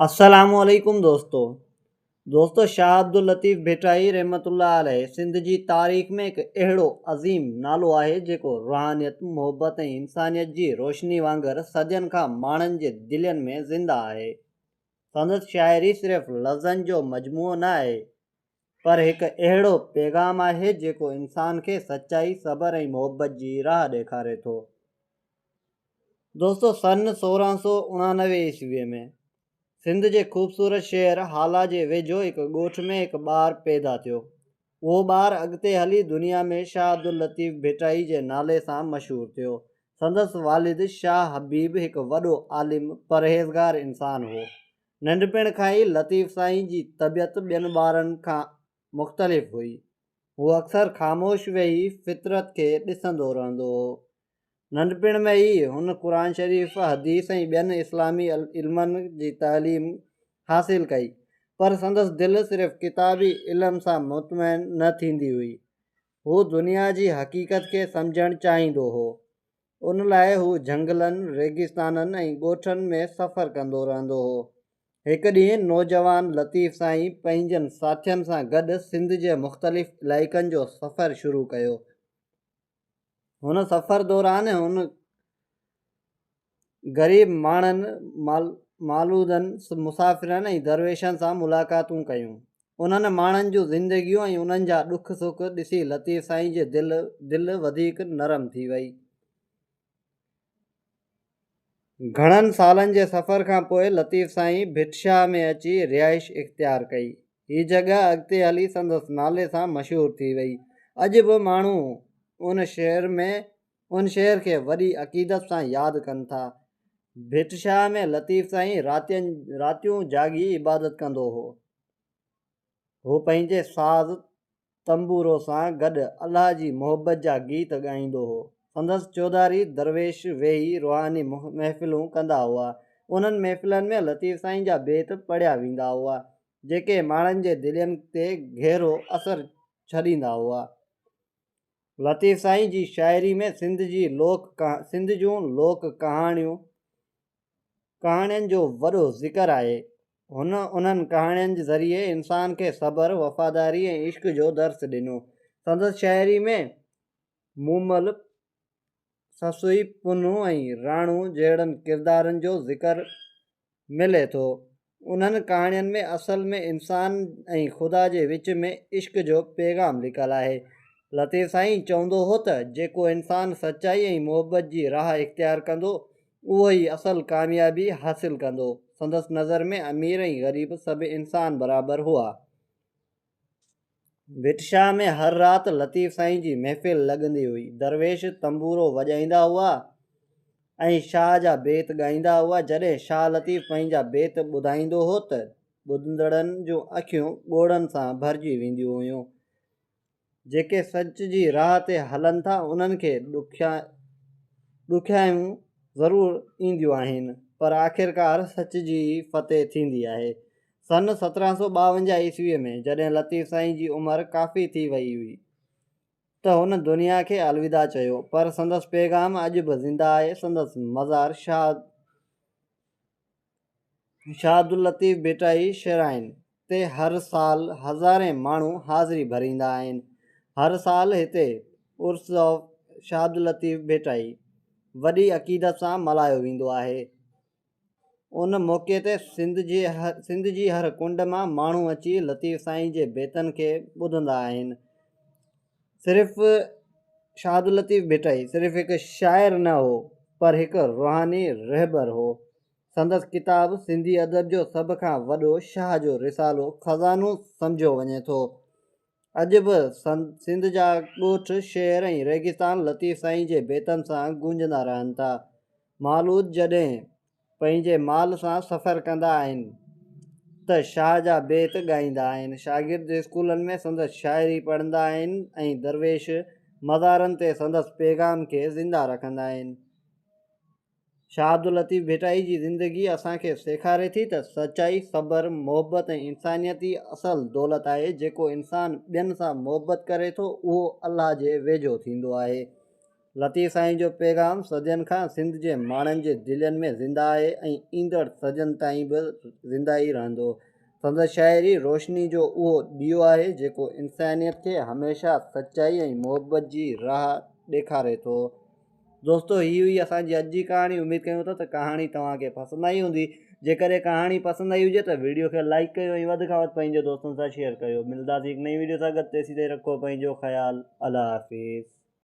السلام عليڪم دوستو دوستو شاهه عبداللطيف ڀٽائي رحمت الله عليه سنڌ جي تاريخ ۾ هڪ اهڙو عظيم نالو آهي جيڪو روحانيت محبت ۽ انسانيت جي روشني وانگر صدين کان ماڻهن جي دلين ۾ زنده آهي سندس شاعري صرف لفظن جو مجموعو نه آهي پر هڪ اهڙو پيغام آهي جيڪو انسان کي سچائي، صبر ۽ محبت جي راهه ڏيکاري ٿو. دوستو سن سورهن سؤ اڻانوي عيسويء ۾ سنڌ جي خوبصورت شهر هالا جي ويجهو هڪ ڳوٺ ۾ هڪ ٻار پيدا ٿيو. اهو ٻار اڳتي هلي دنيا ۾ شاهه عبداللطيف ڀٽائي جي نالي سان مشهور ٿيو. سندس والد شاهه حبيب هڪ وڏو عالم، پرهيزگار انسان هو. ننڍپڻ کان ئي لطيف سائين جي طبيعت ٻين ٻارن کان مختلف هئي. هو اڪثر خاموش ويهي فطرت کي ڏسندو رهندو هو. ننڍپڻ ۾ ئي هن قرآن شريف، حديث ۽ ٻين اسلامي علمن جي تعليم حاصل ڪئي، پر سندس دل صرف ڪتابي علم سان مطمئن نه ٿيندي هئي. هو دنيا جي حقيقت کي سمجهڻ چاهيندو هو. ان لاء هو جهنگلن، ريگستانن ۽ ڳوٺن ۾ سفر ڪندو رهندو هو. هڪ ڏينهن نوجوان لطيف سائين پنهنجن ساٿين سان گڏ سنڌ جي مختلف علائقن جو سفر شروع ڪيو. هن سفر دوران هن غريب ماڻهن، مالودن، مسافرن ۽ درويشن سان ملاقاتون ڪيون. انهن ماڻهن جون زندگيون ۽ انهن جا ڏک سک ڏسي لطيف سائين جي دل دل وڌيڪ نرم ٿي وئي. گهڻن سالن جي سفر کان پوء لطيف سائين ڀٽشاهه ۾ اچي رهائش اختيار ڪئي. هي جڳهه اڳتي هلي سندس نالي سان مشهور ٿي وئي. اڄ به ماڻهو ان شهر ۾ ان شهر کي وڏي عقيدت سان ياد ڪن ٿا. ڀٽشاهه ۾ لطيف سائين راتين راتيون جاڳي عبادت ڪندو هو. هو پنهنجي ساز تنبورو سان گڏ الله جي محبت جا گيت ڳائيندو هو. سندس چوڌاري درويش ويهي روحاني محفلون ڪندا هئا. انهن محفلن ۾ لطيف سائين جا بيت پڙهيا ويندا هئا، جيڪي ماڻهن جي دلين تي گهرو اثر ڇڏيندا هئا. لطيف سائين جي شاعري ۾ سنڌ جي لوڪ سنڌ جون لوڪ ڪهاڻيون ڪهاڻين جو وڏو ذڪر آهي. هن انهن ڪهاڻين جي ذريعي انسان کي صبر، وفاداري ۽ عشق جو درس ڏنو. سندس شاعري ۾ مومل، سسئي پنهون ۽ راڻو جهڙن ڪردارن جو ذڪر ملي ٿو. انهن ڪهاڻين ۾ اصل ۾ انسان ۽ خدا جي وچ ۾ عشق جو پيغام لڪل آهي. لطيف سائين چوندو هو ته جيڪو انسان سچائي ۽ محبت جي راهه اختيار ڪندو اهو ئي اصل ڪاميابي حاصل ڪندو. سندس نظر ۾ امير ۽ غريب سڀ انسان برابر هئا. ڀٽشاهه ۾ هر رات لطيف سائين جي محفل لڳندي هئي. درويش تنبورو وڄائيندا هئا ۽ شاهه جا بيت ڳائيندا هئا. جڏهن شاهه لطيف پنهنجا بيت ٻڌائيندو هو ته ٻڌندڙن جون اکيون ڳوڙهن سان ڀرجي وينديون هيون. جيڪي سچ جي راهه تي هلن ٿا انهن کي ڏکيائيون ضرور اينديون آهن پر آخرڪار سچ جي ئي فتح ٿيندي آهي. سن سترهن سؤ ٻاونجاهه عيسويء ۾ جڏهن لطيف سائين جي عمر ڪافي ٿي ويئي هئي ته هن دنيا کي الوداع چيو پر سندس پيغام اڄ به زنده آهي سندس مزار شاهه شاهه عبداللطيف ڀٽائي شرائن تي هر سال هزارين ماڻهو حاضري ڀريندا آهن هر سال هتي عرس آف شاهه عبداللطيف ڀٽائي وڏي عقيدت سان ملهايو ويندو آهي ان موقعي تي سنڌ جي هر ڪنڊ مان ماڻهو اچي لطيف سائين جي بيتن کي ٻڌندا آهن. صرف شاهداللطيف ڀٽائي صرف هڪ شاعر نه هو پر هڪ روحاني رهبر هو. سندس ڪتاب سنڌي ادب جو سڀ کان وڏو شاهه جو رسالو خزانو سمجهيو وڃي ٿو. اڄ به سنڌ جا ڳوٺ، شهر ۽ ريگستان لطيف سائين جي بيتن سان گونجندا رهن ٿا. مالود جڏهن پنهنجي مال سان سفر ڪندا آهن ته شاهه جا بيت ڳائيندا آهن. شاگرد اسڪولن ۾ سندس شاعري پڙهندا آهن ۽ درويش مزارن تي سندس پيغام کي زنده رکندا آهن. شاهه عبداللطيف ڀٽائي جي زندگي اسان کي سيکاري ٿي ته سچائي، صبر، محبت ۽ انسانيت ئي اصل دولت آهي، جيڪو انسان ٻين سان محبت ڪري ٿو، اهو الله جي ويجهو ٿيندو آهي. لطيف سائين جو پيغام صدين کان سنڌ جي ماڻهن جي دلين ۾ زنده آهي ۽ ايندڙ صدين تائين به زنده ئي رهندو. سندس شاعري روشني جو اهو ڏيئو آهي، جيڪو انسانيت کي هميشه سچائي ۽ محبت جي راهه ڏيکاري ٿو. دوستو هي هئي اسان جي اڄ جي ڪهاڻي اميد ڪيون ٿا ته ڪهاڻي توهان کي پسند آئي هوندي جيڪڏهن ڪهاڻي پسند آئي هجي ته ويڊيو کي لائيڪ ڪيو ۽ وڌ کان وڌ پنهنجي دوستن سان شيئر ڪيو ملداسين هڪ نئين ويڊيو سان گڏ تيسين تائين رکو پنهنجو خيال الله حافظ.